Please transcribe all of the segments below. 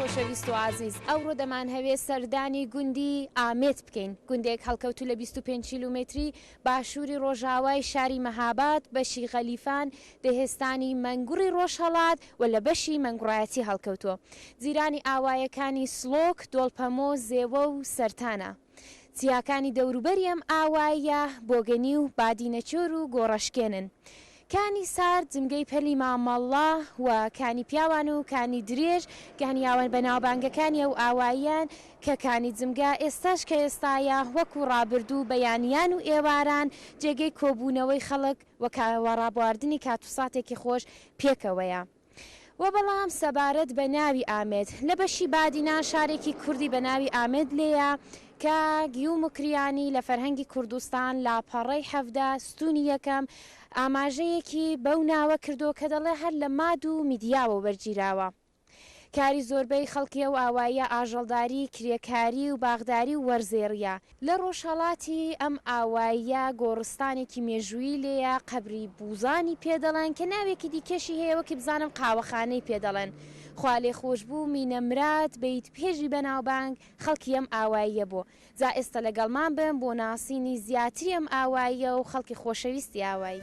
خۆشەویست و ئازیز، ئەوڕۆ دەمانهەوێ سەردانی گوندی، ئامێت، بکەین، گوندێک هەڵکەوتوو لە بیست و پێنج کیلومێتری باشووری ڕۆژاوای شاری مەهاباد، بەشی غەلیفان، دهستانی مەنگوڕی ڕۆژهەڵات، و لە بەشی مەنگوڕایەتی هەڵکەوتووە. جیرانی ئاوایەکانی سڵۆک، دۆڵپەمۆ، زێوە و سەرتانە. چیاکانی دەوروبەری ئەم ئاواییە بۆگەنی و بادینەچۆر و گۆڕەشکێنن. کانی سارد جمگەی پەلی مامەڵڵە و کانی پیاوان و کانی درێژ گانیاون بە ناوبانگەکانی ئەو ئاواییەن کە کانی جمگە ئێستاش کە ئێستایە وەکوو ڕابردوو بەیانیان و ئێواران جێگەی کۆبوونەوەی خەڵک و کاوەڕابواردنی کاتوساتێکی خۆش پێکەوەیە. وە بەڵام سەبارەت بە ناوی ئامێد لە بەشی بادینان شارێکی کوردی بە ناوی ئامێد لێیە کە گیو موکریانی لە فەرهەنگی کوردستان لاپەڕەی حەڤدە ستوونی یەکەم ئاماژەیەکی بەو ناوە کردووە کە دەڵێ هەر لە ماد و میدیاوە وەرگیراوە کاری زۆربەی خەڵکی ئەو ئاواییە ئاژەڵداری، کرێکاری و باخداری و وەرزێڕییە. لە ڕۆژهەڵاتی ئەم ئاواییە گۆڕستانێکی مێژوویی لێیە، قەبری بووزانی پێ دەڵێن، کە ناوێکی دیکەشی هەیە وەکی بزانم قاوەخانەی پێ دەڵێن. خوالێخۆشبوو مینە مراد بەیت پێژی بەناوبانگ خەڵکی ئەم ئاواییە بوو. جا ئێستە لەگەڵمان بن بۆ ناسینی زیاتری ئەم ئاواییە و خەڵکی خۆشەویستی ئاوایی.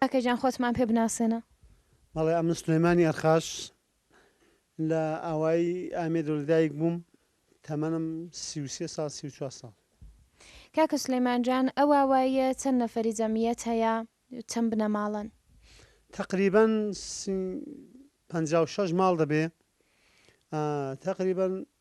کاکە گیان خۆتمان پێ بناسێنە. بەڵێ ئەمن سلێمانی ئەرخاش لە ئاوایی ئامێدۆ لە دایک بووم تەمەنم سی و سێ ساڵ سی و چوار ساڵ. کاکە سلیمان جان ئەو ئاواییە چەند نەفەری جەمیەت هەیە چەند بنەماڵەن؟ تەقریبەن سی پەنجا و شەش ماڵ دەبێ تەقریبەن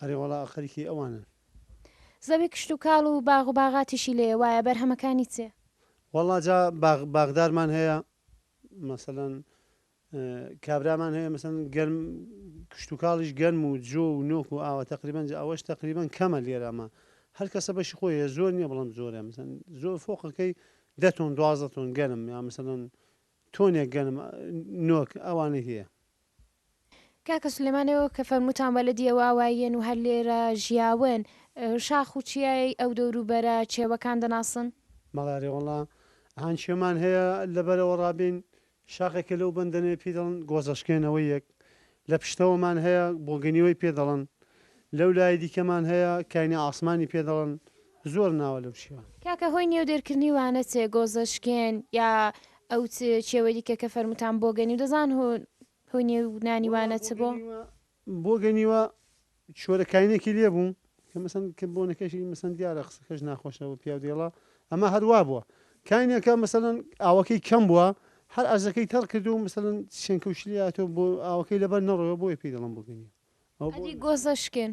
ئەرێ وەڵا خەریکی ئەوانن. زەوی کشتوکاڵ و باغ و باغاتیشی لێیە وایە بەرهەمەکانی چێ. وەڵا جا باغ باغدارمان هەیە مەسەلەن کابرامان هەیە مەسەلەن گەرم کشتوکاڵیش گەرم و جۆ و نۆک و ئاوە تەقریبەن جا ئەوەش تەقریبەن کەمە لێرە ئەمە هەر کەسە بەشی خۆی هەیە زۆر نییە بەڵام زۆرە مەسەلەن زۆر فۆقەکەی دە تۆن دوازدە تۆن گەرم یا مەسەلەن تۆنێک گەرم نۆک ئەوانەی هەیە. کاکە سلێمان ئێوە کە فەرمووتان بەلەدیەوە ئاواییەن و هەر لێرە ژیاون شاخ و چیای ئەو دەور و بەرە چێوەکان دەناسن؟ مەڵاێ وەڵا هان چێمان هەیە لە بەرەوە ڕابێین شاخێکە لەو بەندەنەیە پێی دەڵن گۆزەشکێنەوەییەک لە پشتەوەمان هەیە بۆگەنیوەی پێ دەڵن لەو لایەی دیکەمان هەیە کاینی عاسمانی پێ دەڵن زۆر ناوە لەو شیوان. کاکە هۆی نێو دێرکردنی وانە چێ گۆزە شکێن یا ئەو چ چێوەی دیکە کە فەرموتان بۆگەنیو دەزان هۆ هۆی نێو نانی وەڵا وانە چ بۆ؟ بۆگەنیوە بۆگەنیوە چۆرە کاینێکی لێ بوو کە مەسەن کە بۆنەکەشی مەسەن دیارە قسەکەش ناخۆشە بۆ پیاو دێڵە ئەما هەر وا بووە کاینێکە مەسەلەن ئاوەکەی کەم بووە هەر ئەرزەکەی تەڕ کردو مەسەلەن شێنکەو شلی هاتووە بۆ ئاوەکەی لەبەر نەڕۆیەوە بۆیە پێی دەڵەن بۆگەنیوە ئەوە بۆ ئەدی گۆزە شکێن؟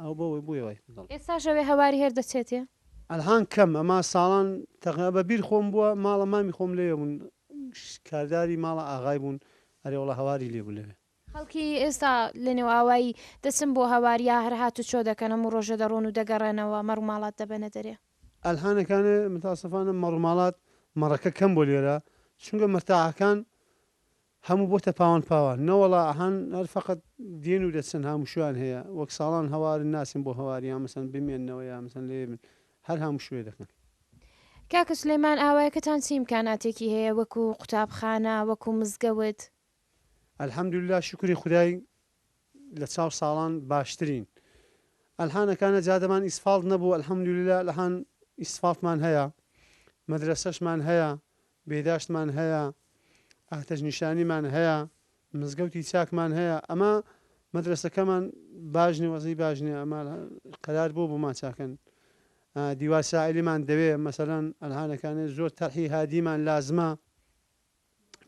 ئەوە بۆ وەی بوویە وای دڵ. ئێستاش ئەوێ هەواری هەر دەچێتێ. ئەلهان کەم ئەما ساڵان تەقریبا بە بیر خۆم بووە ماڵە مامی خۆم لەوێ بوون کارداری ماڵە ئاغای بوون ئەرێ وەڵا هەواری لێ بوو لەوێ. خەڵکی ئێستا لە نێو ئاوایی دەچن بۆ هەوار یا هەر هاتوچۆ دەکەن هەموو ڕۆژێ دەڕۆن و دەگەڕێنەوە مەڕ و ماڵات دەبەنە دەرێ. ئەلهانەکانێ متاسفانە مەڕ و ماڵات مەڕەکە کەم بۆ لێرە چونکە مەرتاحەکان هەموو بۆتە پاوان پاوان. نەوەڵا ئەهان هەر فەقەت دێن و دەچن هاموشویان هەیە وەک ساڵان هەوارن ناچن بۆ هەوار یان مەسەن بمێننەوە یان مەسەن لەوێ بن هەر هاموشوێ دەکەن. کاکە سلێمان ئاوایەکەتان چی ئیمکاناتێکی هەیە وەکو قوتابخانە وەکو مزگەوت؟ الحمدللە شوکری خودای لە چاو ساڵان باشترین. ئەلحانە کانە جادەمان ئیسفاڵت نەبوو الحمدللە ئەلحان ئیسفاڵتمان هەیە مەدرەسەشمان هەیە بێداشتمان هەیە ئاتەش نیشانیمان هەیە مزگەوتی چاکمان هەیە ئەمە مەدرەسەکەمان باش نیە وەزعی باش نیە ئەمە قەرار بۆ بۆمان چاکەن دیوار ساعلیمان دەوێ مەسەلەن ئەلحانەکانێ زۆر تەرحی هادیمان لازمە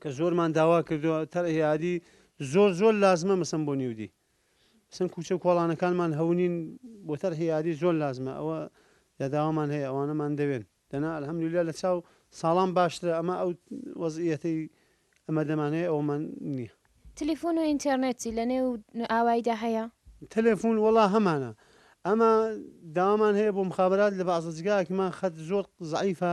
کە زۆرمان داوا کردوە تەر ئەیادی زۆر زۆر لازمە مەسم بۆ نیودی سن کوچە کۆڵانەکانمان هەونین بۆ تەر هیادی زۆر لازمە ئەوە یاداوامان هەیە ئەوانەمان دەوێن دەنا ئەلهەمدللا لە چاو ساڵان باشترە ئەمە ئەو وەزیەتی ئەمە دەمانەیە ئەومان نییە تەلفۆن و ئینتەرنێتی لە نێو ئاوایدا هەیە تەلفۆن وڵا هەمانە ئەمە داوامان هەیە بۆ مخابات لە بازەجگاکیمان خەت زۆر زعیفە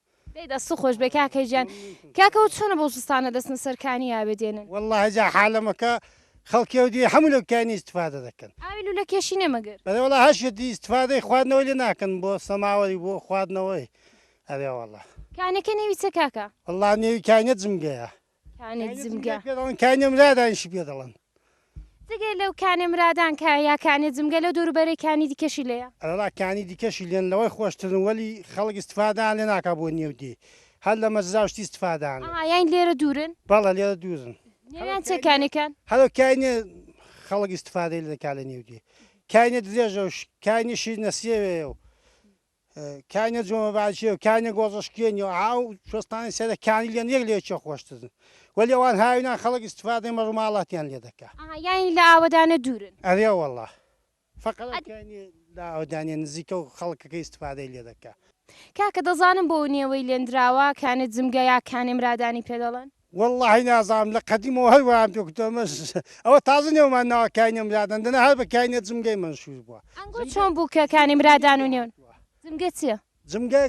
دەی دەستت خۆش بێ کاکە گیان. کاکە وە چۆنە بەڵوچستانە دەچنە سەر کانی ئاوێ دێنن؟ وەڵا هەجا حالەمەکە خەڵکی ئەو دیوی حەموو لەو کانی ئیستفادە دەکەن. ئاوی لولە کێشی نیە مەگەر؟ بەلێ وەڵا هەر شتێ ئیستفادەی خواردنەوەی لێ ناکەن بۆ سەماوەری بۆ خواردنەوەی ئەرێ وەڵا. کانەکە نێوی چیە کاکە؟ وەڵا نێوی کانیە جمگەیە. کانێ جمگە. کانێ مرادانیشی پێ دەڵێن. جگە لەو کانێ مرادان کە یا کانێ جمگە لەو دەوروبەرەی کانی دیکەشی لێیە؟ ئەرا کانی دیکەشی لێن لەوەی خۆشترن وەلی خەڵک ئیستفادەیان لێ ناکا بۆ نیەو دێی هەر لە مەزراو شتی ئیستفادەیان لێ. ئەها یانی لێرە دوورن؟ بەڵێ لێرە دوورن. نێویان چیە کانەکان؟ هەرو کانێ خەڵک ئیستفادەی لێ دەکا لە نێو دێ کانێ درێژە و کانێ شیرنەسێوێیە و کاینە جۆمە باجێ و کاینە گۆزەشکێنی و ئاو شۆستانی سەرە کانی لێن یەک لێ چێ خۆشترن وەلی ئەوان هاوینا خەڵک استفادەی مەڕوماڵاتیان لێ دەکا ئەها یانی لە ئاوەدانە دوورن ئەرێ وەڵا فەقەت ئەو کاینی لە ئاوەدانیە نزیکە و خەڵکەکە استفادەی لێ دەکا. کاکە دەزانم بۆ نێوەی لێندراوە کانێ جمگە یا کانێ مرادانی پێ دەڵێن؟ وەڵاهی نازانم لە قەدیمەوە هەر وایان پێ کوتوە ئەمە ئەوە تازە نێومان ناوە کاینە مرادان دەنا هەر بە کاینە جمگەی مەنشور بوە. ئەنگۆ چۆن بوو کە کانی مرادان و نێون جمگە چیە؟ جمگە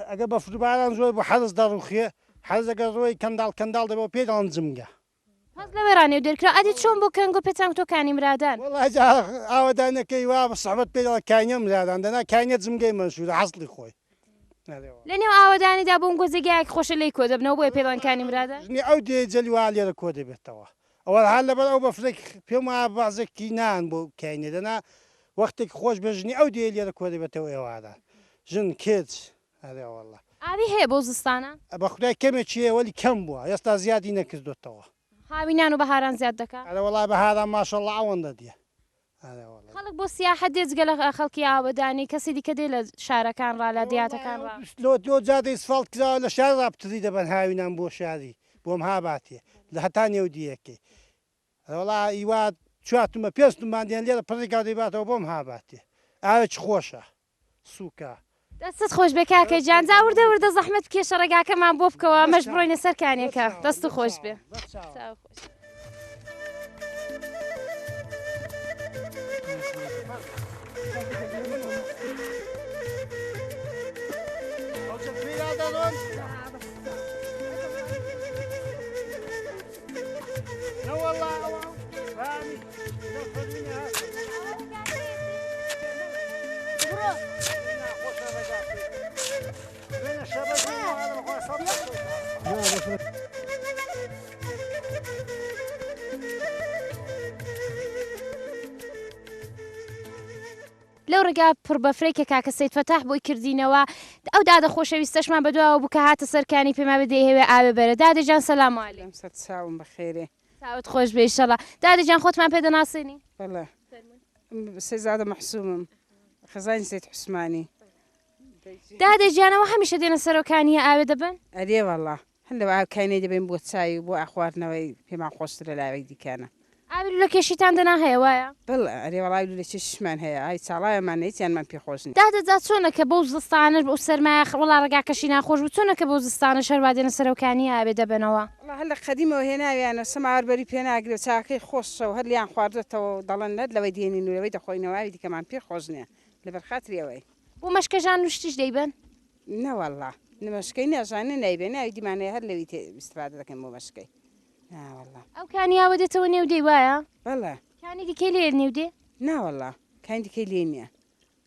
ئەگەر بەفرو باران زۆر بوو حەرز دەڕوخێ حەرز ئەگەر ڕۆی کەنداڵ کەنداڵ دەبێ وە پێی دەڵێن جمگە. پس لەوێ ڕا نێو دەرکرا. ئەدی چۆن بوو کە ئەنگۆ پێتان کوتوە کانی مرادان؟ وەڵاهی جا ئاوەدانەکەی وا سەعبەت پێی دەڵێن کاینە مرادان دەنا کاینە جمگەی مەنشورە حەسڵی خۆی. لە نێو ئاوەدانیدا بۆم گۆزێ گیایەک خۆشە لێی کۆ دەبنەوە بۆیە پێڵانکانی مرادە. ژنی ئەو دێ جەلی وا لێرە کۆ دەبێتەوە ئەوە هەر لەبەر ئەو بەفرە پێم وایە بەعزێک تی نان بۆ کاینێ دەنا وەختێک خۆش بێ ژنی ئەو دێ لێرە کۆ دەبێتەوە ئێواران ژن کچ ئەرێ وەڵا. ئاوی هەیە بۆ زستانە؟ بە خودای کەمێکی هەیە وەلی کەم بووە ئێستا زیادی نەکردۆتەوە. هاوینان و بەهاران زیاد دەکا؟ ئەرێ وەڵا بەهاران ماشەڵا ئەوەندە دێ خەڵک بۆ سیاحەت دێت جگە لە خەڵکی ئاوەدانی کەسی دیکە دێت لە شارەکان ڕا لە دیاتەکان ڕا؟ لۆ لۆ جادەی سفاڵت کراوە لە شار ڕا پتری دەبەن هاوینان بۆ شاری بۆم ها باتێ لە هەتا نێو دیەکەی ئەرێ وەڵا ئیوا چوار تومە پێنج تومەن دێن لێرە پڕی کاو دەیباتەوە بۆم ها باتێ ئاوێکی خۆشە. سوکە. دەستت خۆشبێ کاکە گیان جا وردە وردە زەحمەت بکێ شەڕەگاکەمان بۆ بکەوە مەش بڕۆینە سەر کانێکە دەست و خۆش بێ. لەو ڕێگا پڕ بەفرەی کە کاکە سید فەتاح بۆی کردینەوە ئەو دادە خۆشەویستەشمان بەدواوە بوو کە هاتە سەرکانی پێما بدەی هەوێ ئاوێ بەرە دادەجان سەلام علیکم. لەم سەد چاوم بەخێرێ چاوت خۆش بێ ئیشەڵا دادە جان خۆتمان پێ دەناسێنی بەڵێ سێزادە مەحسومم خزانی سێت حوسمانی دادە جانەوە هەمیشە دێنە سەرۆکانیە ئاوێ دەبن ئەرێ وەڵا هەندە ئاکانی دەبین بۆ چای و بۆ ئاخواردنەوەی پێمان خۆشترە لاوەی دیکانە ئاوی لە کێشیتان دەنا هەیە وایە بڵ ئەرێ وەڵای لە چێشمان هەیە ئای چاڵایەمان نەیتیانمان پێ خۆشنی دادە جا چۆنەکە بەو زستانەش بە سەرمایە وڵا ڕگاکەشی ناخۆش بوو چۆنەکە بەو زستانە شەروادێنە سەرۆکانی ئاوێ دەبنەوە وەڵا هەر لە قەدیمەوە هێناویانە سەماوەر بەری پێ ناگرێ و چاکەی خۆشە و هەر لیان خواردۆتەوە و دەڵێن نەت لەوەی دێنین و لەوەی دەخۆینەوە ئاوی دیکەمان پێ خۆش نیە لەبەر خاتری ئەوەی. بۆ مەشکەژان و شتیش دەیبەن؟ نەوەڵا مەشکەی نەژانێ نایبێ ناوی دیمان هەیە هەر لەوی تێ ئیستفادە دەکەین بۆ مەشکەی ناوەڵا. ئەو کانی ئاوە دێتەوە نێو دێی وایە؟ بەڵێ. کانی دیکەی لێیە نێو دێ؟ ناوەڵا کانی دیکەی لێ نیە.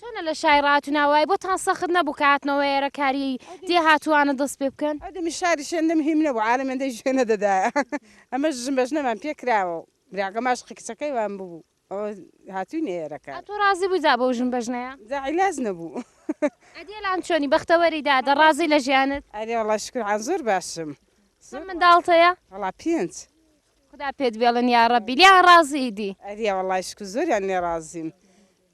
چۆنە لە شاری ڕاتونا وای بۆتان سەخت نەبوو کە هاتنەوە ئێرە کاریی دێ هاتووانە دەست پێ بکەن؟ ئەدمی شاری شێندم هیم نەبوو عالم هێندەی گوێ نەدەدایە ئەمە ژن بە ژنەمان پێ کراوە و براکەم ئاشقی کچەکەی وان ببوو ئەوە هاتووینە ئێرە کار. تۆ ڕازی بووی جا بەو ژن بە ژنەیە؟ جا عیلاج نەبوو. ئەدی ئەلان چۆنی بەختەوەری دادە ڕازی لە ژیانت؟ ئەرێ وەڵا شوکر عە زۆر باشم. چەند منداڵت هەیە؟ وەڵا پێنج. خودا پێت بێڵن یاڕەبی. لێیان ڕازیی دی؟ ئەرێ وەڵای شوکر زۆریان لێ ڕازیم.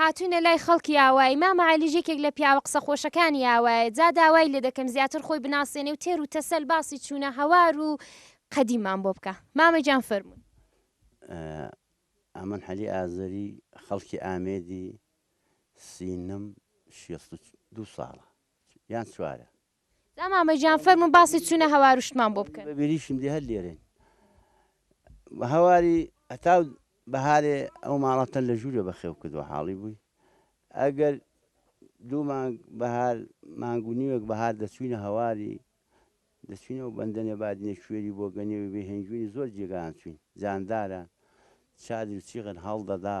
هاتوینە لای خەڵکی ئاوایی مامە عەلیش یەکێک لە پیاوە قسە خۆشەکانی ئاوایە جا داوای لێ دەکەم زیاتر خۆی بناسێنێ و تێر و تەسەل باسی چوونە هەوار و قەدیممان بۆ بکا مامە گیان فەرموون. ئەمن عەلی ئازەری خەڵکی ئامێدی سینم شێست و دوو ساڵە یان چوارە. جا مامە گیان فەرموون باسی چوونە هەوار و شتمان بۆ بکەن. بەبیریشم دێ هەر لێرەین و هەواری هەتاو بەهارێ ئەو ماڵە تەن لە ژوورێ بەخێو کردووە حاڵی بووی ئەگەر دوو مانگ بەهار مانگ و نیوێک بەهار دەچووینە هەواری دەچووینە و بەندەنێ بادینێ کوێری بۆ گەنێوی بێ هێنجووین زۆر جێگایان چووین جانداران چادر و چیغن هەڵدەدا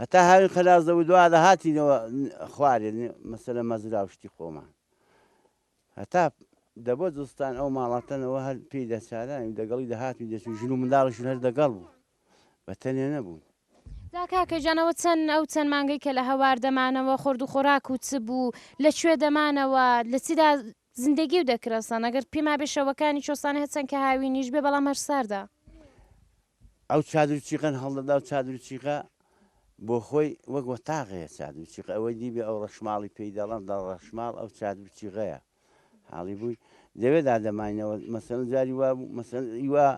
هەتا هاوین خەلاس دەبوو دوا دەهاتینەوە خوارێ مەسەلە مەزرا و شتی خۆمان هەتا دەبوو زستان ئەو ماڵاتەنەوە هەر پێی دەچارانی دەگەڵی دەهاتین دەچوو ژن و منداڵیشون هەر دەگەڵ بوو بە تەنێ نەبوون دا کاکە جانەوە چەند ئەو چەند مانگەی کە لە هەوار دەمانەوە خورد و خۆراک و چ بوو لە کوێ دەمانەوە لە چیدا زندگی و دەکرەسان ئەگەر پێما بێ شەوەکانی چۆسانە هەچەند کە هاوینیش بێ بەڵام هەر ساردا ئەو چادر و چیقەن هەڵدەدا و چادر و چیقە بۆ خۆی وەک وەتاغەیە چادر و چیقە ئەوەی دیبێ ئەو ڕەشماڵی پێی دەڵەن دەڵ ڕەشماڵ ئەو چادر و چیغەیە حاڵی بووی دەوێ دادەماینەوە مەسەن جاری وا بوو مەسەن ئیوا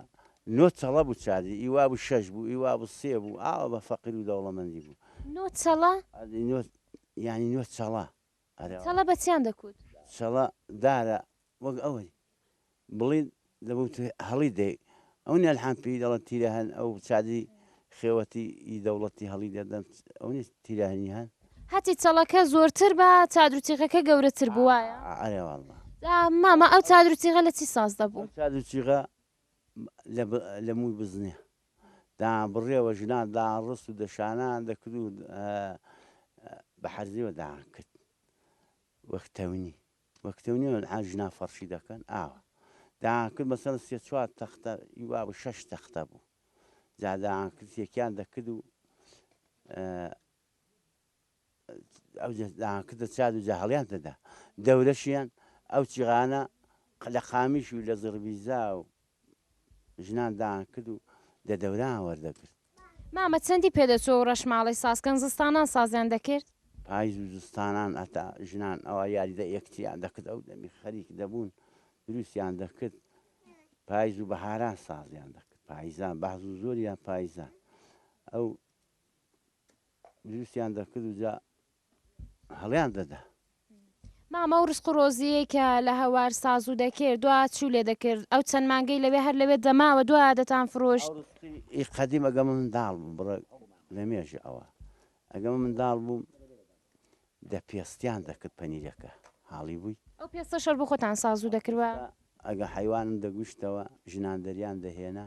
نۆ چەڵە بوو چادری ئیوا بوو شەش بوو ئیوا بوو سێ بوو ئاوە بە فەقیر و دەوڵەمەندی بوو نۆ چەڵە؟ ئەدی نۆ یانی نۆ چەڵە چەڵە بە چیان دەکووت؟ چەڵە دارە وەک ئەوەی بڵێیت دەبووت هەڵیدەی. ئەو نێلحان پێی دەڵێن تیرەهەن، ئەو چادری خێوەتی ی دەوڵەتی هەڵیدەدەن، ئەو نیە تیرەهەنی هەن؟ هەتی چەڵەکە زۆرتر بە چادر و چیغەکە گەورەتر بوو وایە؟ ئەرێ واڵڵە. جا مامە ئەو چادر و چیغە لە چی ساز دەبوو؟ ئەو چادر و چیغە لە مووی بزنێ دا بڕێوە ژنان دا ڕست و دەشانان دەکرد و بە حەرزیوە دایان کرد وەک تەونی وەک تەونی ئا ژنا فەرشی دەکەن ئاوە دایان کرد مەسەر سێ چوار تەختە یوا بە شەش تەختە بوو جادایان کرد سێکیان دەکرد و ئەوجە داهان کردە چاد و جاهەڵیان دەدا دەورەشیان ئەو چیغانە لە قامیش و لە زڕبیزا و ژنان داهان کرد و دە دەوران وەردەگرت مامە چەندی پێدەچوو و ڕەشماڵی سازکەن زستانان سازیان دەکرد؟ پایز و زستانان ئەتا ژنان ئەوا یاریدە یەکتریان دەکرد ئەو دەمی خەریک دەبوون دروستیان دەکرد پایز و بەهاران سازیان دەکرد پایزان بەهز و زۆریان پایزان ئەو دروستیان دەکرد و جا هەڵیان دەدا. مامە ئەو ڕسق و ڕۆزیەی کە لە هەوار سازو دەکرد دوا چو لێ دەکرد ئەو چەند مانگەی لەوێ هەر لەوێ دەماوە دوا دەتان فرۆشت. ئی قەدیم ئەگەر من منداڵ بووم بڕە لە مێژە ئەوە ئەگەر من منداڵ بووم دە پێستیان دەکرد پەنیرەکە حاڵی بووی. ئەو پێستە شەر بۆ خۆتان سازو دەکرد و. ئەگە حەیوانم دەگوشتەوە ژنان دەریان دەهێنا.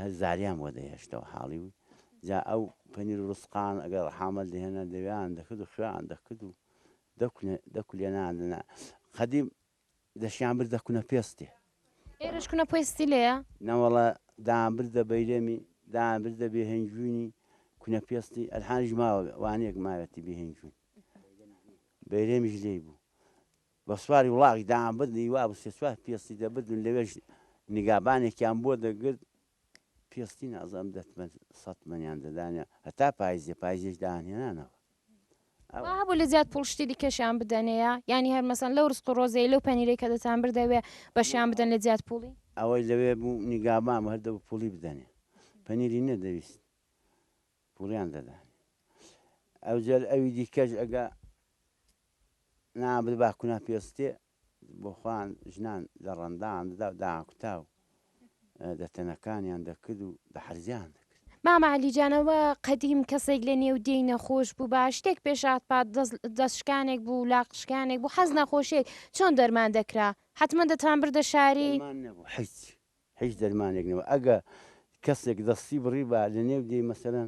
هەر زاریان بۆ دەهێشتەوە حاڵی و جا ئەو پەنیر و ڕسقان ئەگەر ڕەحامەت دەهێنا دەوێیان دەکرد و خوێیان دەکرد و دەکولێنان دەنا قەدیم دەشیان بردە کونە پێستێ ئێرەش کونە پێستی لێە نەوەڵە دایان بردە بەیرەمی دایان بردە بێهنجوینی کونە پێستی ئەلحانیش ماوە وانەیەک ماوێتی بێهنجوین بەیرەمیش لێی بوو بە سواری وڵاغی دەیانبردنی وا بوو سێ چوار پێستی دەبردن لەوێش نیگابانێکیان بۆ دەگرت پێستی نازانم دە تمەن سەد تمەنیان دەدانێ هەتا پایز دێ پایزێش دایانهێنانەوە ئەوە. وا هەبوو لە زیاد پووڵ شتی دیکەشیان بدەنێە یانی هەر مەسەن لەو ڕزق و ڕۆزیەی لەو پەنیرەی کە دەتان بردەوێ بەشیان بدەن لە جیاد پووڵی؟ ئەوەی لەوێ بوو نیگابان بوو هەر دەبوو پووڵی بدەنێ پەنیری نەدەویست پوریان دەدانێ ئەوجەر ئەوی دیکەش ئەگە نابر با کونا پێستێ بۆ خوان ژنان لە ڕەندان دەدا و داکوتا و دەتەنەکانیان دەکرد و دە حەرزیان دەکرد مامە عەلی جان ئەوە قەدیم کەسێک لە نێو دێی نەخۆش بوو با شتێک پێشات پات دەستشکانێک بوو لاقشکانێک بوو حەز نەخۆشێک چۆن دەرمان دەکرا حتممە دەتان بردە شاری حیچ هیچ دەرمانێک نەبوو ئەگە کەسێک دەستی بڕیبا لە نێو دێی مەسەلەن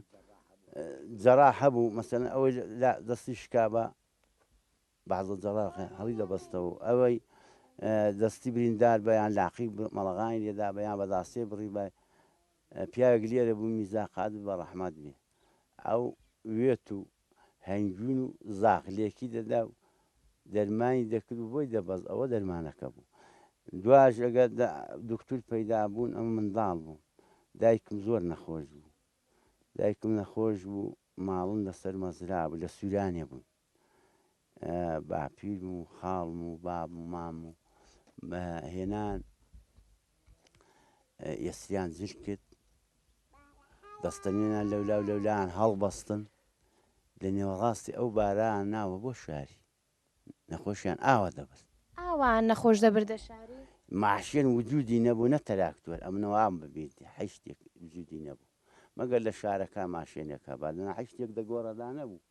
جەراح هەبوو مەسەلەن ئەوەی لا دەستی شکابا بەعزە جەراح هەڵی دەبەستەوە ئەوەی دەستی بریندار بەیان لاقی مەڵغاین لێدا بەیان بەداسێ بڕی بای پیاوێک لێرە بوو میزا قادر بە ڕەحمات بێ ئەو وێت و هەنگوین و زاخ لێکی دەدا و دەرمانی دەکرد و بۆی دەبەست، ئەوە دەرمانەکە بوو. دواش ئەگەر دوکتور پەیدا بوون، ئەمن منداڵ بووم، دایکم زۆر نەخۆش بوو. دایکم نەخۆش بوو، ماڵم لەسەر مەزرا بوو، لە سوورانێ بووین. باپیرم و خاڵم و بابم و مام و بە هێنان یەسریان زیش کرد دەستەنێنان لەولا و لەولایان هەڵبەستن لە نێوەڕاستی ئەو باران ناوە بۆ شاری نەخۆشیان ئاوا دەبرد ئاوا نەخۆش دەبردە شاری ماشێن وجودی نەبوو نە تەراکتوەر ئەم نەوام ببیت حیشتێک وجودی نەبوو مەگەر لە شارەکە ماشێنێکە بادن حیشتێک دەگۆڕەدا نەبوو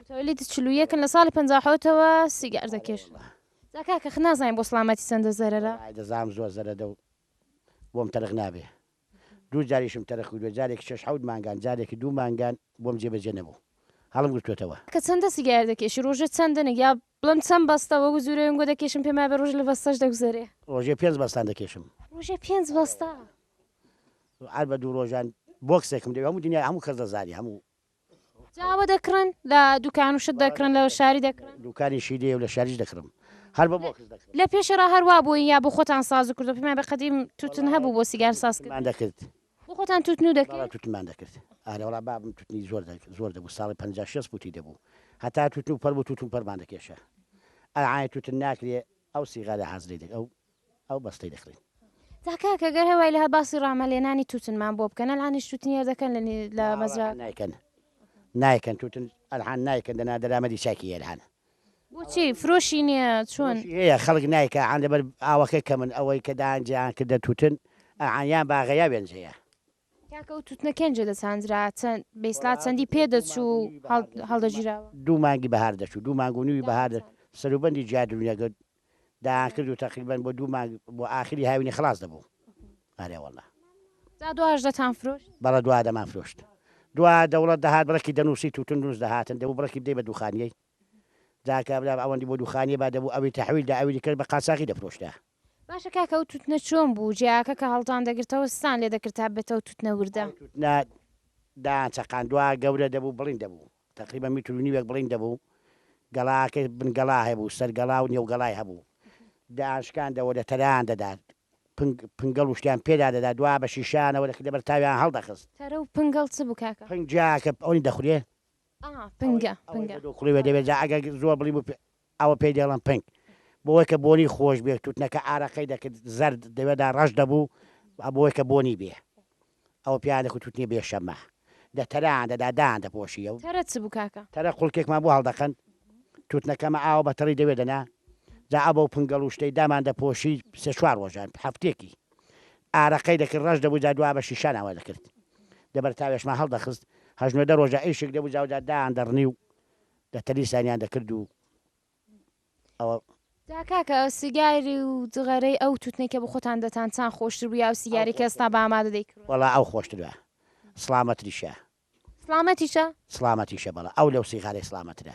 متولد چل و یەکن لە ساڵی پەنجا و حەوتەوە سیگار دەکرد جا کاکە خە نازانین بۆ سڵامەتی چەندە زەرەرە. وەڵاهی دەزانم زۆر زەرەدە و بۆم تەرخ نابێ دوو جاریشم تەرخ کردوە جارێکی شەش حەوت مانگان جارێکی دوو مانگان بۆم جێ بەجێ نەبوو هەڵم گرتۆتەوە. کاکە چەندە سیگار دەکێشی ڕۆژێ چەند دەنێک یا بڵێم چەند بەستە وەکو جورەوێن گۆ دەکێشم پێم وابێ ڕۆژێ لە بەستەش دەگوزەرێ. ڕۆژێ پێنج بەستان دەکێشم. ڕۆژێ پێنج بەستە. هەر بە دوو ڕۆژان بۆکسێکم دەوێ هەموو دنیای هەموو کەس دەزانێ هەموو جاوە دەکڕن لە دوکان و شت دەکڕن لە شاری دەکڕن دوکانی شی دێ و لە شاریش دەکڕم هەر بە بۆکس دەکڕم لە پێشێرا هەروا بووین یا بۆ خۆتان ساز و کردو پێمان بە قەدیم توتن هەبوو بۆ سیگار ساز کرد مان دەکرد بۆ خۆتان توتن و دەکرد بەڵا توتنمان دەکرد ئارە وەڵا بابم توتنی زۆر زۆر دەبوو ساڵی پەنجا شێست پوتی دەبوو هەتا توتن و پەر بوو توتن پەرمان دەکێشا ئەعای توتن ناکرێ ئەو سیغارە حازرەی دەک ئەو ئەو بەستەی دەکڕین. جا کاکە گەر هەوای لە هە باسی ڕامە لێنانی توتن مان بۆ بکەن ئەلعانیش توتنی هەر دەکەن لە نی لە مەزرا. ناوەڵا کەن نایکەن نایکەن توتن ئەلحان نایکەن دەنا دەرامەدی چاکی ئەلحان. بۆچی فرۆشی نیە چۆن. فرۆشی هەیە خەڵک نایکە ئەلحان لەبەر ئاوەکەی کەمن ئەوەی کە دایان جیان کردە توتن ئەلحان یان باغە یا وێنجەیە. کاکە ئەو توتنە کێنجە دەچاندرا چەند بەیسلا چەندی پێ دەچوو هەڵدەگیراوە؟ دوو مانگی بەهار دەچوو دوو مانگ و نووی بەهار دە سەروبەندی جیا دروونیەکە دایان کرد و تەقریبەن بۆ دوو مانگ بۆ ئاخری هاوینی خەڵاس دەبوو ئارێ وەڵا جا دواش دەتان فرۆشت؟ بەڵە دوا دەمان فرۆشت دوا دەوڵەت دەهات بڕەکی دەنووسی توتن دروست دەهاتن دەبوو بڕەکی بدەی بە دووخانیەی جاکە برا ئەوەندی بۆ دووخانیە با دەبوو ئەوی تەحویل دا ئەوی دیکەش بە قاچاخی دەفرۆشتە. باشە کاکە ئەو توتنە چۆن بوو جیاکە کە هەڵتان دەگرتەوە سستان لێ دەکرد تا ببێتەوە توتنە وردە. ئەو توتنە دایان چەقاندوە گەورە دەبوو بڵیند دەبوو تەقریبەن میتر و نیوێک بڵیند دەبوو گەڵاکەی بن گەڵا هەبوو سەر گەڵا و نێو گەڵای هەبوو دایان شکاندەوە لە تەرەیان دەدا پنگ پنگەڵ و شتیان پێدا دەدا دوا بە شیشەیانەوە دەکردە بەر تاویان هەڵدەخست. تەرە و پنگەڵ چ بوو کاکە؟ پنگ جیاکە ئەونی دەخورێ. ئا پنگە پنگە. ئەوەی بە دوو کوڵی وێ دەبێ جا ئەگەر زۆر بڵیند بوو ئەوە پێی دەڵێن پنک. بۆوەی کە بۆنی خۆش بێ توتنەکە ئارەقەی دەکرد زەرد دەوێدا ڕەش دەبوو ئەبۆوەی کە بۆنی بێ ئەوە پێیان دەکوت توتنی بێ شەمە دە تەرەیان دەدا دایان دەپۆشی ئەو تەرە چ بوو کاکە؟ تەرە قوڵکێکمان بۆ هەڵدەکەند توتنەکەمە ئاوە بە تەڕی دەوێ دەنا جا ئەبەو پنگەڵ و شتەی دامان دەپۆشی سێ چوار ڕۆژان هەفتێکی ئارەقەی دەکرد ڕەش دەبوو جا دوا بە شیشان ئەوە دەکرد دە بەرتاوێشمان هەڵدەخست هەژنۆ دە ڕۆژە ئیشک دەبوو جا جا دایان دەڕنی و دە تەلی سانیان دە کرد و ئەوە. جا کاکە سیگاری و جغەرەی ئەو توتنەی کە بە خۆتان دەتان چان خۆشتر بوو یا ئەو سیگارەی کە ئێستا بە ئامادە دەیکڕن؟ وەڵا ئەو خۆشترە سڵامەتریشە. سڵامەتیشە؟ سڵامەتیشە بەڵێ ئەو لەو سیغارەی سڵامەترە.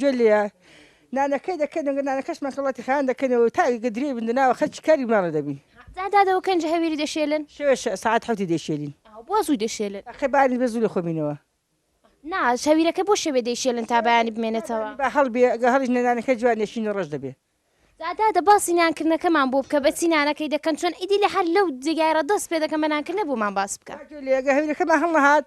گوێ لێ نانەکەی دەکەین و نانەکەشمان سەڵاتی خان دەکەین و تا ئەگە درێی بن ناوە خەرچی کاری ماڵە دەبین. جا دادەوە کەنجە هەویری دەشێلن؟ شەوێ سەعات حەوتی دەیشێلین. بۆ زوو دەشێلن؟ ئەخەی بارێ بێ زوو لە خۆ بینەوە. نا هەویرەکە بۆ شەوێ دەیشێلن تا بەیانی بمێنێتەوە؟ با هەڵبێ ئەگە هەڵیش نێ نانەکە جوان دەشین و ڕەش دەبێ. جا دادە باسی نانکردنەکەمان بۆ بکە بەچی نانەکەی دەکەن چۆن ئیدی لە هەر لەو جێگایەڕا دەست پێ دەکەن بە نانکردنە بۆمان باس بکە. گوێ لێ ئەگە هەویرەکەمان هەڵنەهات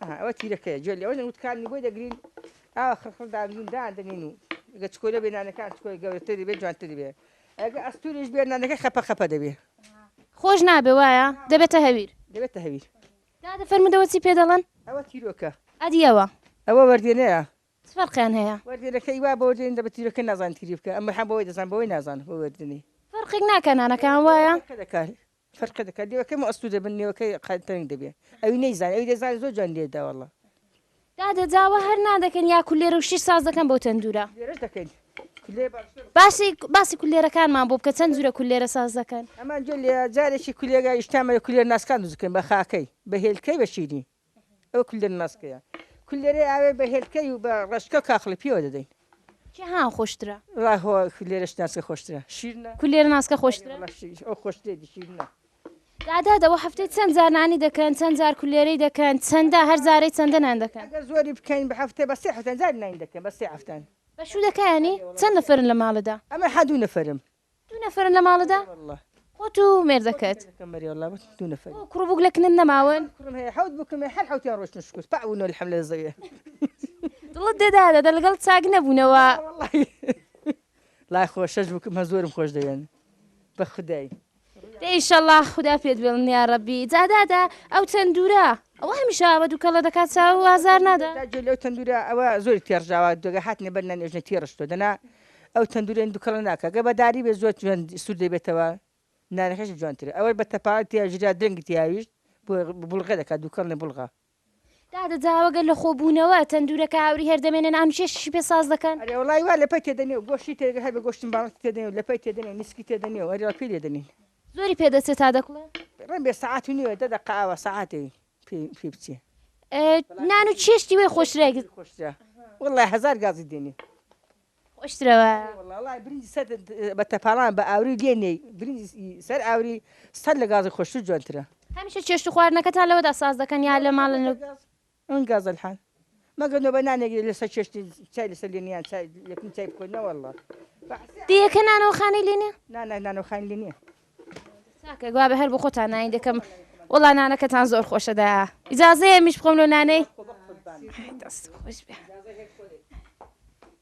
ئەها ئەوە تیرەکەیە گوێ لەوە دەن وتکانی بۆی دەگرین ئاوا خڕخڕ دابنین دادەنین و گە چکۆلە بێ نانەکان چکۆی گەورەتری بێ جوانتری بێ ئەگە ئەستوریش بێ نانەکە خەپە خەپە دەبێ خۆش نابێ وایە دەبێتە هەویر دەبێتە هەویر دادە فەرمودەوە چی پێ دەڵێن ئەوە تیرۆکە ئەدیەوە ئەوە وەردێنەیە چ فەرقیان هەیە وەردێنەکەی وا بۆ دێن دەبێت تیرۆکە نازان تیری بکە ئەمە هەم بۆی دەزان بۆی نازان بۆ وەردنی فەرقێک ناکە نانەکان وایە دەکات فەرقێ دەکات لێوەکەی مەستوور دەبن لێوەکەی قە تەنک دەبێ ئەوی نەیزانێ ئەوی دەزانێ زۆر جوان لێ دەدا وەڵڵا. دادە داوا هەر نان دەکەن یا کولێرە و شیر ساز دەکەن بۆ تەندورە؟ کولێرەش دەکەین کولێرە باشترە. باشی باسی کولێرەکانمان بۆ بکە چەند جورە کولێرە ساز دەکەن. ئەمان جۆ لێیە جارێکی کولێرە ئیشتان بە کولێرە ناسکان دروست دەکەین بە خاکەی بە هێلکەی بە شیرین. ئەوە کولەر ماسکەیە کولەرەی ئاوێ بە هێلکەی و بە ڕەشکە کاخڵی پێوە دەدەین کێ ها خۆشترە ڕاهۆ کولێرە شناسکە خۆشترە شیرنە کولێر ناسکە خۆشترە ئەو خۆشتێ دیشیرنە دادا دەوە هەفتەی چەند جار نانی دەکەن چەند جار کولێرەی دەکەن چەندە هەر جارەی چەندە نان دەکەن ئەگەر زۆری بکەین بە هەفتەی بە سێ هەفتەن جار نان دەکەن بە سێ هەفتەن بە شوو دەکەیانی چەند نەفرن لە ماڵدا ئەمە حەدوو نەفرم دوو نەفەرن لە ماڵدا؟ خۆت و مێردەکەت؟ بۆ کوڕ و بووک لە کنن نەماون؟ دڵت دێ دادە دە لەگەڵ چاک نەبوونەوە؟ دە ئیشەڵڵا خودا پێت بێڵن یاڕەبی. جا دادە ئەو تەندورە ئەوە هەمیشە ئاوە دووکەڵە دەکات چاو و ئازار نادا؟ ئەو تەندورە هیندو کەڵە ناکا گەر بەداری بێت زۆر جوان سور دەبێتەوە نانەکەش جوانترە ئەوەش بە تەپاوەت تیا ژرا درەنگی تیاویشت بوڵغە دەکات دووکەڵ نە بوڵغە. دادە جاوە گەر لە خۆ بوونەوە تەندورە کە هاوری هەر دەمێنێ نان و چێشتیشی پێ ساز دەکەن؟ ئەرێ وەڵای وا لەپەی تێدە نیەو گۆشتی تێدەگە هەر بە گۆشتم باڵت تێدە نیەو لەپەی تێدە نیەو نیسکی تێدە نیەو ئەرێ وا پێی لێدەنین. زۆری پێ دەچێ تا دەکوڵێ؟ ڕێن بێ سەعات و نیوە دە دەقە ئاوا سەعاتێ. پێ بچێ نان و چێشتی وێ خۆشترە خۆشترە وڵی هزار گازی دێنێ خۆشترەوە بە تەپاڵان بە ئاوری دێنێ سەر ئاوری سەر لە گازی خۆشتر جوانترە هەمیشە چێشت خواردنەکەتان لەوەدا ساز دەکەن یا لە ماڵن ئەم گازەلحان مەگەر نۆبە نانێک لەسەر چێشتن چای لەسەر لێنە یان چای یەکم چای بخۆن نەوەڵڵا دیەکە نانەوەخانەی لێ نیە نانە نانەوەخان لێ نییە چاکە گوا بە هەر بۆ خۆتان نانی دەکەم وڵا نانەکەتان زۆر خۆشەدا ئیجاازەیە میش بخۆم لۆ نانەی دەست خۆش بێ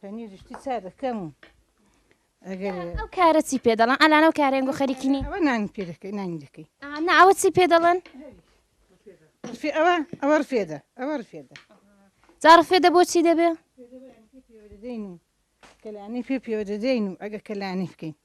پەنیری شتی چا دەکەم و ئەگەر ئەو کارە چی پێ دەڵێن ئەلان ئەو کارێن گۆ خەریکی نی ئەوە نانی پێ دەکەی نانی دەکەی ئا، نا ئەوە چی پێ دەڵێن رفێ ئەوە ئەوە رفێدە ئەوە رفێدە جا ڕفێدە بۆچی دەبێ دەدەین و کەلانی پێ پێوە دەدەین و ئەگە کەلانی بکەین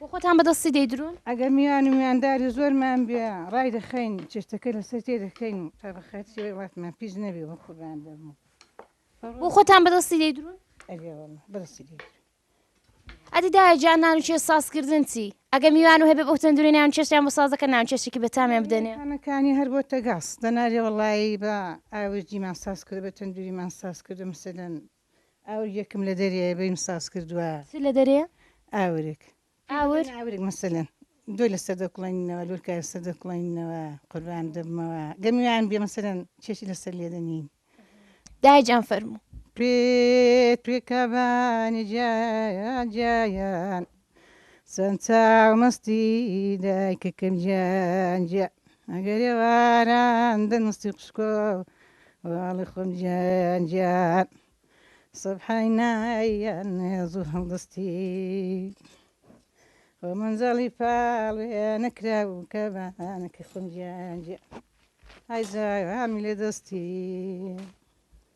بۆ خۆتان بە دەستی دەیدرون؟ ئەگەر میوان و میوانداری زۆرمان بێ ڕایدەخەین و چێشتەکە لەسەر تێدەکەین و تا بە خەرجی وڵاتمان پیس نەبێ بۆ خۆمان دەبم. بۆ خۆتان بە دەستی دەیدرون؟ ئەرێ وەڵا بە دەستی دەیدرون. ئەدی دایە گیان نان و چێشت سازکردن چی؟ ئەگەر میوان و هەبێ بەو تەندورەی نان و چێشتیان بۆ ساز دەکەن نان و چێشتێکی بەتامیان بدەنێ؟ خانەکانی هەر بۆتە گاز دەنارێ وەڵایی بە ئاوردیمان ساز کردووە بە تەندوریمان ساز کردووە مەسەلەن ئاور یەکم لە دەریایە بەیم ساز کردوە. چ لە دەرێیە؟ ئاورک. ئاور؟ ئاورک مەسەلەن دۆ لە سەر دەکوڵێنینەوە، لۆرکە لە سەر دەکوڵێنینەوە، قوربان دەبمەوە گەر میوان بێ مەسەلەن چێشی لە سەر لێ دەنێین. دایە جان فەرموو. پێت پێکا بانە جا جا یان. چەند چاو مەستی دایکەکەم گیان گیان ئەگەر ێواران دەنووسی قشکۆ واڵی خۆم گیان گیان سەبحای نایان زوو هەڵدەستی خۆ منجەڵی پاڵێ نەکرا و کە بانەکە خۆم گیان گیان ئای زایانی لێ دەستی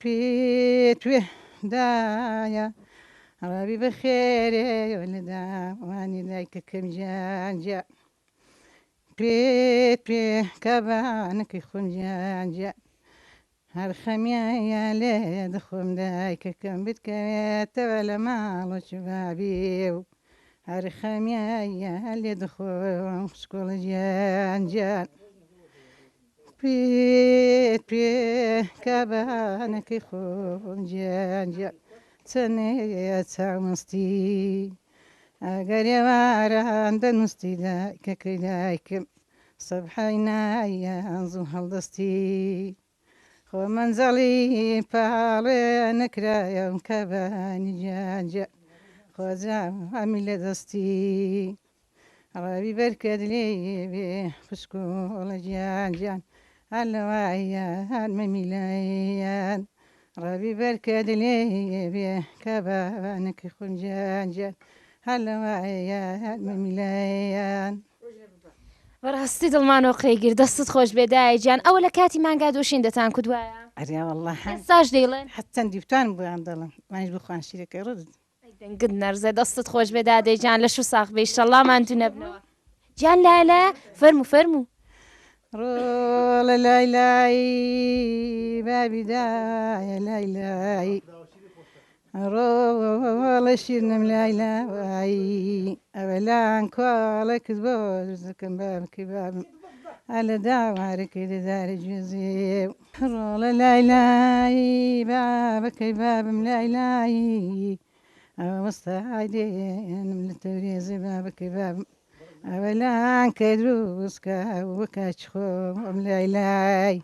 پیتوێ دایە ڕاوی بە خێرێ وەلدا وانی لای کەکەم جان جا پێت پێ کابانەکەی خۆم جان جا هەر خەمیایە لێ دەخۆم دایکەکەم بتکەوێتەوە لە ماڵۆ چ بابێ و هەر خەمیایە لێ دەخۆم خوشکۆڵە جان جان پێت پێ کا بانەکەی خۆم جیان جیان چەنێ چاومەستی ئەگەر ێواران دەنووستی دایکەکەی دایکم سەبحای نایان زوو هەڵدەستی خۆ منزەڵی پاڵێ نەکرایەم کە بانی جیان جیان خۆجا هەمی لە دەستی ڕەبی بەرکەت لێی بێ خوشک و ئەڵە گیان گیان هەر لەوایە هەر مەمیلەیان ڕەبی بەرکەت لێی بێ کە بەوانەکی خۆم گیان گیان هەر لەوایە هەر مەمیلەیان بەڕاستی دڵمانەوە قەیگیر دەستت خۆش بێدایە گیان ئەوە لە کاتی مانگا دۆشین دەتان کودوایە ئەریا والله هەن ساش دەیڵێن حەت چەندی بتوانم بۆیان دەڵم مانیش بخوان شیرەکەی ڕدت ئەی دەنگت نەرزێ دەستت خۆش بێ دادەی جان لەش و ساخ بێ ئیشەڵڵا ماندوو نەبنەوە جان لالە فەرموو فەرموو ڕۆڵە لای لای بابی دایە لای لای ڕۆڵە شیرنم لای لای ئەوەلان کواڵە کز بۆ زکم بابکی بابم ئەلە داوارەکەی دەدارە گوێزێ ڕۆڵە لای لای بابە کەی بابم لای لای ئەوە وەستە ئایدێنم لە تەورێزێ بابە کەی بابم ئەوە لان کە دروستکە وەکاچ خۆ ئەم لای لای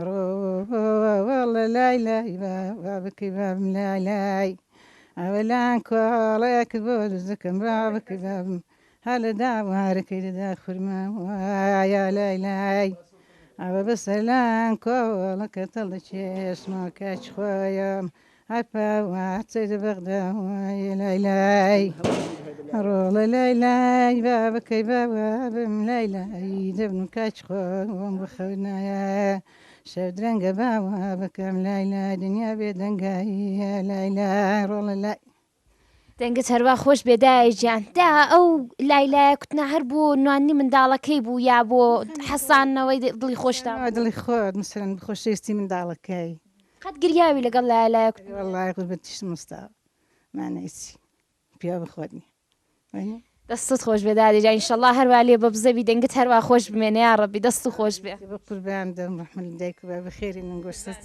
ڕۆڵە لای لای بابە کەی بابم لای لای ئەوە لان کۆڵەیەک بۆ دزەکەم بابە کەی بابم هەلە داوارەکەی دەدا خورما وایە لای لای ئەوە بەسەلان کۆڵەکە تەڵ دەچێشماکە چخۆیەم هەپا واتەی دە بەغدا وایە لای لای ڕۆڵە لای لای بابەکەی باوە بم لای لای دەبن و کاچ خۆم بخەونایە شەو درەنگە باوە بەکەم لای لای دنیا بێ دەنگاییە لای لای ڕۆڵە لای دەنگت هەروا خۆش بێ دایە گیان دا ئەو لای لایە کوتنا هەر بۆ نوانی منداڵەکەی بوو یا بۆ حەسانەوەی دڵی خۆشتا ئەوە دڵی خۆت مثلەن خۆشەویستی منداڵەکەی قەت گریاوی لەگەڵ لایە لایە کوتنا وەڵڵاهی قوربەتیشم مستاوا مانای چی پیاو بە خۆت نییە. دەستت خۆش بێ دادێ جا ئینشەڵا هەروا لێ بە بزەبی دەنگت هەروا خۆش بمێنێ یا ڕەبی دەست و خۆش بێ بە قوربان دەم ڕحمل دایک بە بەخێری من گۆشتت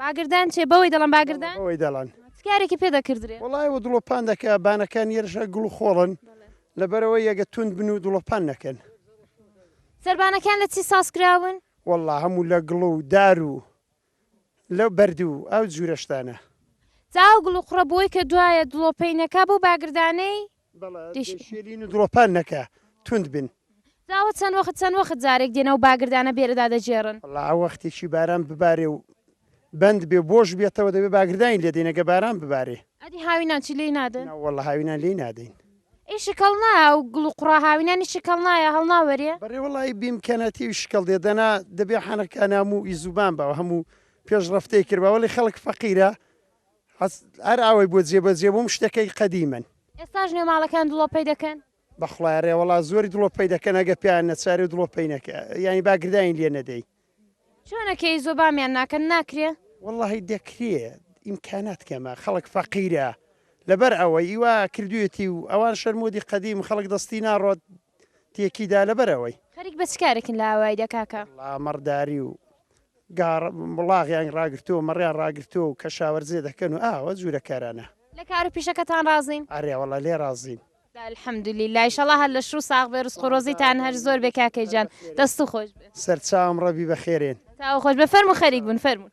باگردان چێ بەوەی دەڵەن باگردان؟ بەوەی دەڵەن. چ کارێکی پێ دەکردرێ؟ وەڵا ئێوە دڵۆپان دەکا بانەکان یەرژە گڵ و خۆڵن لەبەرەوەی ئەگە توند بن و دڵۆپان نەکەن. سەربانەکان لە چی ساز کراون؟ وەڵا هەموو لە گڵ و دار و لە بەرد و ئەو جورە شتانە. جا ئەو گڵ و قوڕە بۆی کە دوایە دڵۆپەی نەکا بەو باگردانەی؟ بەڵێ دەیشێلین و دڵۆپان نەکا توند بن. جا ئەوە چەند وەخت چەند وەخت جارێک دێن ئەو باگردانە بێرە دادەگێڕن؟ وەڵا ئەوە وەختێکی باران ببارێ و بەند بێ و بۆش بێتەوە دەبێ باگردانی لێ دەین ئەگە باران ببارێ. ئەدی هاوینانچی لێی نادەن؟ نەوەڵا هاوینان لێی نادەین. ئەی شکەڵ نایە ئەو گڵ و قوڕا هاوینانی شکەڵ نایە هەڵناوەرێ؟ بەڕێ وەڵای بیمکەنە تێوی شکەڵ دێ دەنا دەبێ حەنەکاناموو ی زوبان باوە هەموو پێشڕەفتەی کردبا وەڵی خەڵک فەقیرە هەست هەر ئاوەی بۆ جێ بەجێ بووم شتەکەی قەدیمەن. ئێستاش نوێ ماڵەکان دڵۆپەی دەکەن؟ بەخڵا ئەرێ وەڵا زۆری دڵۆپەی دەکەن ئەگە پێیان نەچاری و دڵۆپەی نەکە یانی با گردانی لێ نەدەی. چۆنە کێی زۆ بامیان ناکەن ناکرێ؟ وەڵاهی دەکرێ ئیمکانات کەمە خەڵک فەقیرە لەبەر ئەوەی ئیوا کردویەتی و ئەوان شەرمۆدی قەدیم خەڵک دەستی ناڕۆت تێکی دا لەبەر ئەوەی. خەریک بە چ کارێکن لە ئاوایدا کاکە؟ وەڵا مەڕداری و گاڕ مڵاغیان ڕاگرتووە مەڕیان ڕاگرتووە و کەشاوەرزێ دەکەن و ئاوە جوورە کارانە. لە کار و پیشەکەتان ڕازین؟ ئەرێ وەڵا لێ ڕازین. الحمد للە ئیشەڵا هەر لەش و ساغ بێ ڕزق و ڕۆزیتان هەر زۆر بێ کاکە گیان دەست و خۆش بێ. سەرچاوم ڕەبی بە خێرێن. تاو خۆش بێ فەرموو خەریک بوون فەرموون.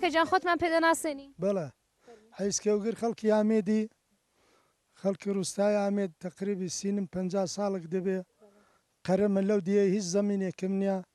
کاکە گیان خۆتمان پێ دەناسێنی. بەڵێ حیز کێوگر خەڵکی ئامێدی خەڵکی ڕوستای ئامێد تەقریبی سینم پەنجا ساڵک دەبێ قەرەمە لەو دییە هیچ زەمینێکم نییە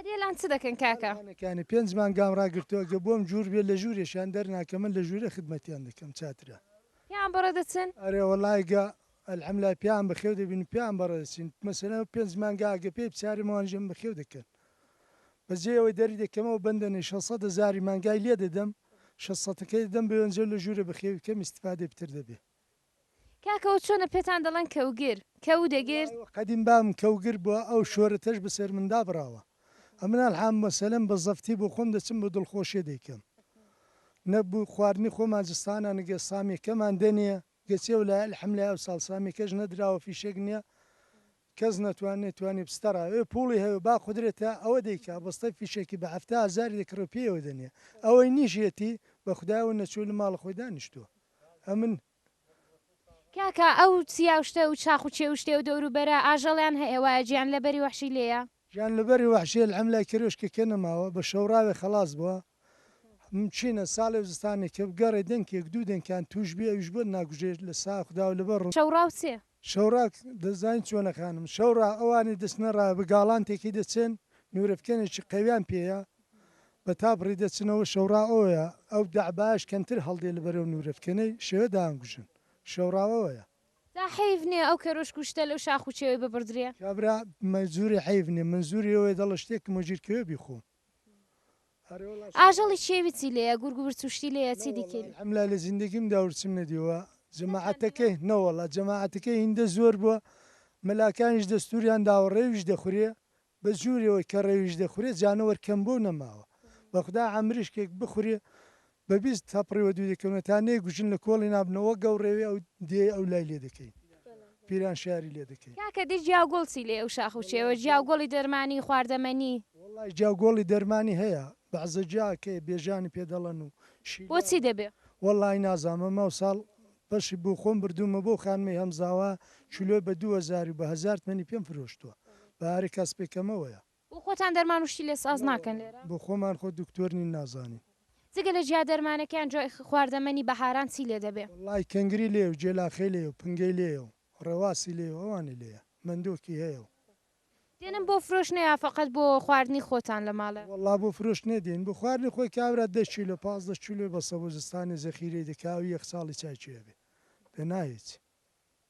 عەدێلان چ دەکەن کاکە؟ تاوانەکانی پێنج مانگام ڕاگرتووە گە بۆم جوور بێت لە ژوورێشیان دەرناکەمن لە ژوورێ خدمەتیان دەکەم چاترە. پیان بەڕێ دەچن؟ ئەرێ وەڵای گا الحملای پیان بەخێو دەبین پیان بەڕێ دەچین مەسەلەن ئەو پێنج مانگە ئەگە پێی بچارم ئەوانیشم بەخێو دەکەن بەس جێی ئەوەی دەری دەکەمەوە بەندە نەی شەش سەد هەزاری مانگای لێ دەدەم شەش سەتەکەی دەدەم بەوێنجەو لە ژوورێ بەخێوی کەم ئیستفادەی پتر دەبێ کاکە ئەو چۆنە پێتان دەڵێن کەوگر، کەو دەگر؟ وەڵا قەدیم بابم کەوگر بوە ئەو شۆرەتەش بەسەر من دابراوە ئەمن الحم مەسەلەن بە زەفتی بۆ خۆم دەچم بۆ دڵخۆشێ دەیکەم نە بو خواردنی خۆمان جستانە نگە سامیەکەمان دەنێ گەچی ئەو لایە الحم لای ئەو ساڵ سامیەکەش نەدراوە فیشەک نیە کەس نەتوان نەیتوانی بستەڕا ئێ پوڵی هەوێ با قودرەتە ئەوە دەیکا بەستەی فیشەکی بە هەفتا هەزاری دەکڕێ و پێیەوە دەنێ ئەوەی نیش یەتی بە خودایەوە نەچوی لە ماڵە خۆی دانیشتوە ئەمن. کاکە ئەو چیا و شتە و چاخ و چێ و شتێ و دەور و بەرە ئاژەڵیان هە ێە وایە جیان لە بەری وەحشی لێیە. جیان لە بەری وەحشی الحم لای کەرێ شکە کە نە ماوە بە شەوراوێ خەڵاس بوە م چینە ساڵێ و زستانێ کە بگە ڕێ دەنکێک دوو دەنکیان توش بی ئەویش بۆت ناگوژێ لە سا خداو لە بە ڕوو. شەوڕاو چێ شەوڕا دەزانی چۆنە خانم شەوڕا ئەوانی دەچنە ڕا بە گاڵانتێکی دەچن نورەفکێنێکی قەویان پێیە بە تابڕی دەچنەوە شەوڕا ئەوەیە ئەو دەعبایەش کەمتر هەڵدێ لە بەرەو نورەفکێنەی شێوە دانکوژن شەوڕا ئەوەیە. جا حەیف نیە ئەو کەرۆشک و شتە لەو شاخ و چێوەی ببڕدرێ؟ کابرا مە جوری حەیف نیە من جوری ئەوەی دەڵە شتێکم وەگیر کەوێ بیخۆم. ئاژەڵی چێوی چی لێیە گورگ ورچوشتی لێیە چی دیکەی. حملا لە زیندەگیم دا ورچم نەدیوە جەماعەتەکەی نەوەڵا جەماعەتەکەی هیندە زۆر بوە مەلاکانیش دەستوریان داوە ڕێویش دەخورێ بە جورێوەی کە ڕێویش دەخورێ جانەوەر کەم بوە و نەماوە بەخودا عەمریشکێک بخورێ بە بیست تەپڕی وە دوو دەکەونە تا نەی گوژن لە کۆڵی نابنە وە گەو ڕێوی ئەو دێی ئەو لای لێ دەکەین پیران شاری لێ دەکەین. کاکە دەی جیاو گۆڵ چی لێ ئەو شاخ و چێوە جیاو گۆڵی دەرمانی خواردە مەنی. وەڵای جیاو گۆڵی دەرمانی هەیە بەعزە جیا کەی بێژانی پێ دەڵەن و شیلە. بۆچی دەبێ؟ وەڵای نازام ئەمە ساڵ پەشی بۆ خۆم بردوومە بۆ خانمەی هەمزاوا کیلۆی بە دوو هەزاری و بە هەزار تمەنی پێم فرۆشتووە بە هەرە کەس پێ کەمەوەیە. بۆ خۆتان دەرمان و شتی لێ ساز ناکەن لێرە؟ بۆ خۆمان خۆ دکتۆر نین نازانین. جگە لە جیا دەرمانەکەیان جۆ ئخ خواردەمەنی بەهاران چی لێ دەبێ؟ وەڵای کەنگری لێیە و جێلاخەی لێیە و پنگەی لێیە و ڕێواسی لێیە و ئەوانی لێیە. مەندۆکی هەیە و. دێنن بۆ فرۆشنە یا فەقەت بۆ خواردنی خۆتان لە ماڵێ؟ وەڵا بۆ فرۆشتنێ دێین. بۆ خواردنی خۆی کابرا دە کیلۆ پازدە کیلۆی بەسە بۆ زستانێ زەخیرەی دەکا ئەو یەک ساڵی چای چێ ئەبێ. پێ نا هیچ.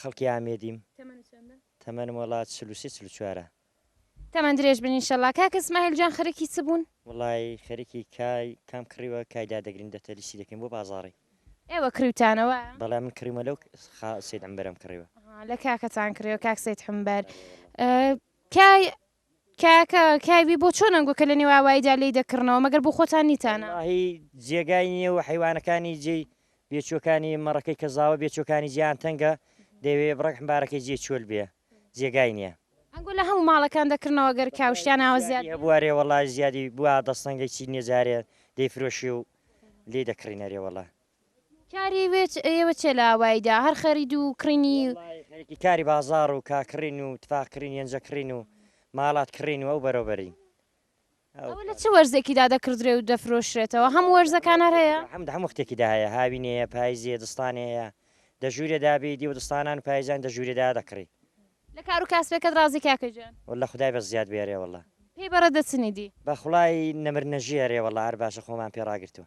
خەڵکی ئامێدیم تەمەنم وەڵا چل و سێ چل و چوارە تەمەن درێژ بن ئینشەڵا کاکە سمایل جان خەرکی چ بوون وڵی خەرکی کای کام کڕیوە کایدا دەگرین دەتەلیسی دەکەین بۆ بازاڕی ئێوە کریوتانەوە بەڵام من کڕیمە لەو سید ئەمبەرم کڕیوە لە کاکەتان کڕیوە کاک سید حمبەر کای کاکە کاوی بۆ چۆن ئەنگۆ کە لە نێو ئاواییدا لێی دەکڕنەوە مەگەر بۆ خۆتان نیتانە. وەڵاهی جێگای نیە و حەیوانەکانی جێی بێچوەکانی مەڕەکەی کە زاوە بێچوەکانی جێیان تەنگە دەیەوێ بڕەک حمبارەکەی جێ چۆل بێ جێگای نیە. ئەنگۆ لە هەموو ماڵەکان دەکڕنەوە گەر کاو شتیان ئاوا زیاد بێ. هەبووە ئەرێ وەڵا زیادی بووە دەستەنگەی چینیە جارێ دەیفرۆشی و لێی دەکڕین ئەرێ وەڵا. کاری وێچ ئێوە چیە لە ئاوایی دا هەر خەرید و کڕینی. وەڵایی خەریکی کاری بازاڕ و کا کڕین و تفاق کڕین یەنجە کڕین و ماڵات کڕین و ئەو بەرەو بەرین. ئەوە لە چ وەرزێکی دا دەکڕدرێ و دەفرۆشرێتەوە هەموو وەرزەکان هەر هەیە؟ هەموو هەموو وەختێکی دا هەیە هاوینێ یە پایزێ دزتانێ هەیە دە ژوورێ دا بێی دیوە دزتانان و پایزان دە ژوورێ دا دەکڕی. لە کارو کاسبێکەت ڕازی کاکە گیان؟ وەللە خودای بە زیاد بێرێ وەڵا. پێی بەڕێ دەچنی دی؟ بە خوڵای نەمر نەژی ئەرێ وەڵا هەر باشە خۆمان پێ ڕاگرتوە.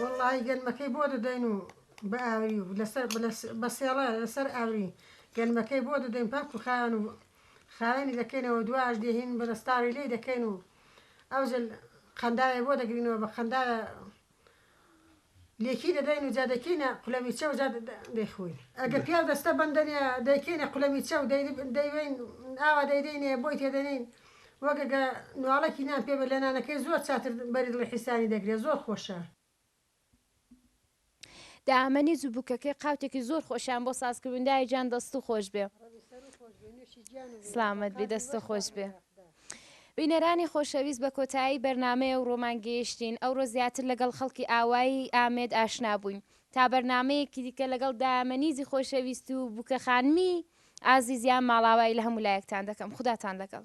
وەڵاهی گەنمەکەی بۆ دەدەین و بە ئاوری و لەسەر بە سێڵە لەسەر ئاوری گەنمەکەی بۆ دەدەین پاک و خاوێن و خاوێنی دەکەینەوە و دوایەش دێهین بەدەستاوی لێی دەکەین و ئەوجل قەنداوێ بۆ دەگرینەوە بە قەنداوێ لێکی دەدەین و جا دەیکەینە قولەمیچە و جا دەیخۆین ئەگەر پیاو دەستە بەندە نیە دەیکەینە قولەمیچە و دەیوێین ئاوا دەیدەینێ بۆی تێدەنین وەک ئەگە نواڵەکی نان پێ بێ لە نانەکەی زۆر چاتر بەری دڵی حیسانی دەگرێ زۆر خۆشە. دامەنی جوو بوکەکەی قاوتێکی زۆر خۆشیان بۆ ساز کردون دایە جان دەست و خۆش بێ سلامت بی دەست و خۆش بێ بینەرانی خۆشەویست بە کۆتایی بەرنمەیە و ڕۆمان گەیشتین ئەو ڕۆ زیاتر لەگەڵ خەڵکی ئاوایی ئامێد ئاشنا بووین تا بەرنمەیەکی دیکە لەگەڵ دامەنیزی خۆشەویست و بووکە خانمی ئازیزیان ماڵاوایی لە هەموو لایەکتان دەکەم خوداتان لەگەڵ